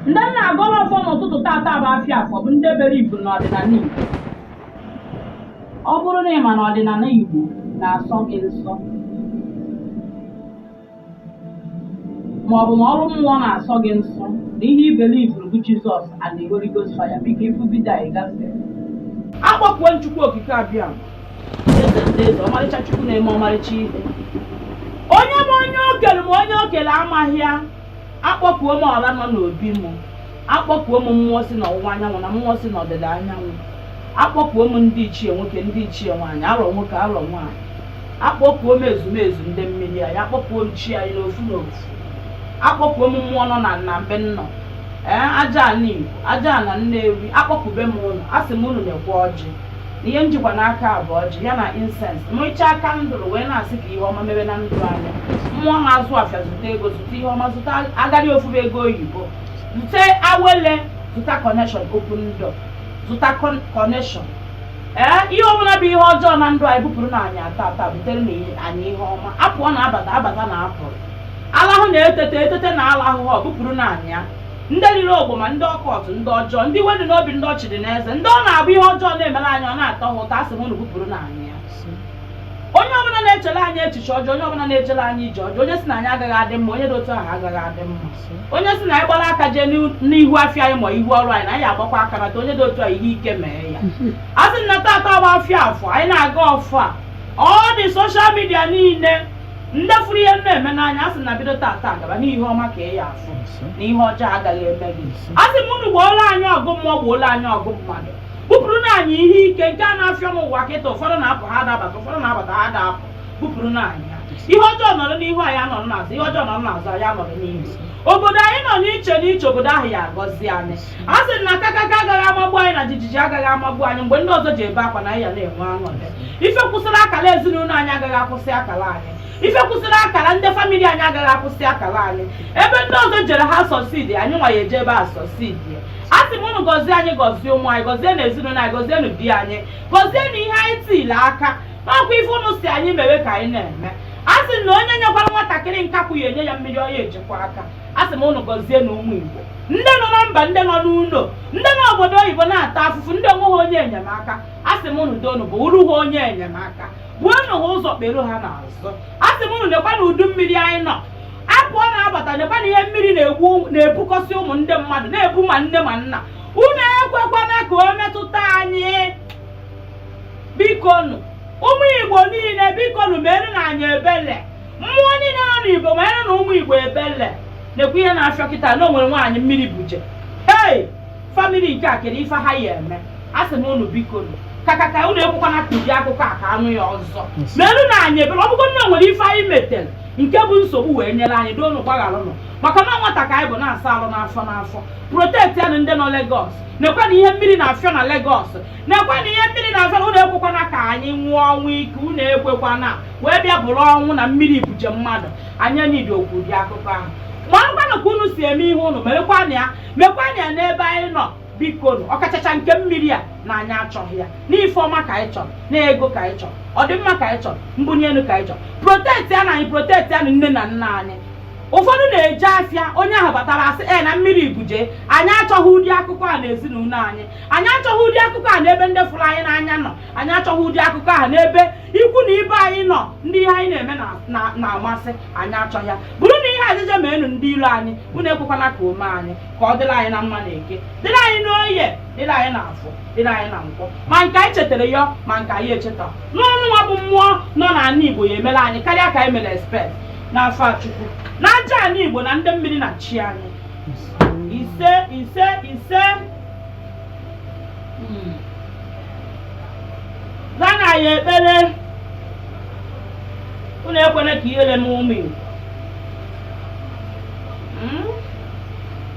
ndị m na-agọrọ ọfọ n'ụtụtụ tata bụ afịa afọ bụ ndị biliivuru n'ọdịnala Igbo ọ bụrụ na ị ma na ọdịnala Igbo na-asọ gị nsọ ma ọ bụ na ọrụ mmụọ na-asọ gị nsọ na ihe i biliivuru bụ Jizọs and the Holy Ghost fire biko ị fụ vidio anyị gafee akpọkuo m Chukwu okike abịama eze ndị eze ọmarịcha Chukwu na-eme ọmarịcha ihe onye ma onye o kere ma onye o kere amaghị ya akpọkuo m ọra nọ n'obi m akpọkuo m mmụọ si n'ọwụwa anyanwụ na mmụọ si n'ọdịda anyanwụ akpọkuo m ndị ichie nwoke ndị ichie nwaanyị arọ nwoke arọ nwaanyị akpọkuo m ezumezu ndị mmiri anyị akpọkuo m chi anyị n'ofu n'ofu akpọkuo m mmụọ nọ na na mbe nnọ ee aja ana Igbo aja ana Nnewi akpọkube m unu asị m unu nekwa ọjị ihe m jikwa n'aka a bụ ọjị ya na insens mụchaa kandụl wee na-asị ka ihe ọma mebe na ndụ anyị mmụọ na-azụ afịa zụta ego zụta ihe ọma zụta agadi ofufe ego oyibo zụta awele zụta kọneshọn open door zụta kọneshọn ee ihe ọbụla bụ ihe ọjọọ na ndụ anyị bupụrụnụ anyị ya tata buterenụ anyị ihe ọma apụọ na abata abata na apụrụ alahụ na-etete etete na alahụ ha ọ bupụrụnụ anyị ya ndị riri ogboma ndị ọkọt ndị ọjọọ ndị iwe dị n'obi ndị ọchị dị n'eze ndị ọ na-abụ ihe ọjọọ na-emere anyị ọ na-atọ ha ụtọ asị m unu bupụrụnụ anyị ya onye ọbụla na-echere anyị echiche ọjọọ onye ọbụla na-ejere anyị ije ọjọọ onye si na anyị agaghị adị mma onye dị otu ahụ agaghị adị mma onye si na anyị gbara aka jee n'ihu- n'ihu afịa anyị ma ihu ọrụ anyị na anyị agbakwa aka nata onye dị otu a ihe ike mee ya a sị na tata bụ afịa afọ anyị na-agọ ọfọ a ndị soshal midia niile ndị fụrụ ihe m na-eme n'anya a sị na bido tata gaba na ihe ọma ka ị ya afụ na ihe ọjọọ agaghị eme gị a sị m unu gboolu anyị ọgụ mmụọ gboolu anyị ọgụ mmadụ bupụrụnụ anyị ihe ike nke a na-afịọ n'ụwa kịta ụfọdụ na-apụ ha ada abata ụfọdụ na-abata ha ada apụ bupụrụnụ anyị ya ihe ọjọọ nọrọ n'ihu anyị anọrọ n'azụ ihe ọjọọ nọrọ n'azụ anyị anọrọ n'ihu obodo anyị nọ n'iche n'iche obodo ahụ ya agọzi anyị a sị na kakaka agaghị amagbu anyị na jijiji agaghị amagbu anyị mgbe ndị ọzọ ji ebe akwa na anyị ya na-enwe aṅụrị ife kwụsịrị akara ezinụlọ anyị agaghị akwụsị akara anyị ife kwụsịrị akara ndị famili anyị agaghị akwụsị akara anyị ebe ndị ọzọ jere ha sọsidi anyị nwa ya eje ebe a sọsidi a sị m unu gọzie anyị gọzie ụmụ anyị gọzienụ ezinụlọ anyị gọzienụ di anyị gọzienụ ihe anyị tile aka na ọ kwa ife unu si anyị mewe ka anyị na-eme a sị na onye nyekwara nwatakịrị nkakwụ ya enye ya mmiri ọ ya eji kwọ aka a sị m ụnụ gọzienụ ụmụ Igbo ndị nọ na mba ndị nọ n'ụlọ ndị nọ obodo oyibo na-ata afụfụ ndị enweghị onye enyemaka a sị m ụnụ doonụ bụụrụ ha onye enyemaka buonụ ha ụzọ kpere ha n'azụ a sị m ụnụ nekwanụ udu mmiri anyị nọ apụọ na-abata nekwanụ ihe mmiri na-ebukọsị ụmụ ndị mmadụ na-ebu ma nne ma nna unu ekwekwana ka o metụta anyị bikonu ụmụ igbo niile bikonu merenụ anyị ebele mmụọ niile nọ n'igbo meerụnụ ụmụ igbo ebele nekwa ihe na-afịọ kịta na o nwere nwaanyị mmiri buje hei famili nke a kedu ife ha ya eme a sị m unu biko nụ kaka ka unu ekwekwana ka ụdị akụkọ a ka anụ ya ọzọ meerụnụ anyị ebere ọ bụgo na o nwere ife anyị metere nke bụ nsogbu wee nyere anyị doonụ gbaghalụnụ maka na nwata ka anyị bụ na-asa arụ n'afọ n'afọ protectịanụ ndị nọ Lagos nekwanụ ihe mmiri na-afịọ na Lagos nekwanụ ihe mmiri na-azara unu ekwekwana ka anyị nwụọ ọnwụ ike unu ekwekwana wee bịa bụrụ ọnwụ na mmiri buje mmadụ anyị nidi okwu ụdị akụkọ ahụ marakwanụ ka unu si eme ihe unu merekwanụ ya mekwanụ ya n'ebe anyị nọ biko nụ ọkachacha nke mmiri a na anyị achọghị ya n'ife ọma ka anyị chọrọ na ego ka anyị chọrọ ọdịmma ka anyị chọrọ mbunye elu ka anyị chọrọ protectịanụ anyị protectịanụ nne na nna anyị ụfọdụ na-eje afịa onye ahụ batara a sị na mmiri buje anyị achọghị ụdị akụkọ a na ezinụlọ anyị anyị achọghị ụdị akụkọ a n'ebe ndị fụrụ anyị n'anya nọ anyị achọghị ụdị akụkọ a n'ebe ikwu na ibe anyị nọ ndị ihe anyị na-eme na-amasị anyị achọghị ya bụrụ na ihe ajịja meenụ ndị iro anyị unu ekwekwana ka o mee anyị ka ọ dịrị anyị na mma na eke dịrị anyị n'oye dịrị anyị na afọ dịrị anyị na nkwọ ma nke anyị chetara ya ma nke anyị echeta na unu nwa bụ mmụọ nọ n'ala Igbo ya emere anyị karịa ka anyị mere expect n'afa Chukwu na aja ala Igbo na ndị mmiri na chi anyị ise ise ise Mm. zanụ anyị ekpere unu ekwene ka ihere mee ụmụ Igbo. Mm.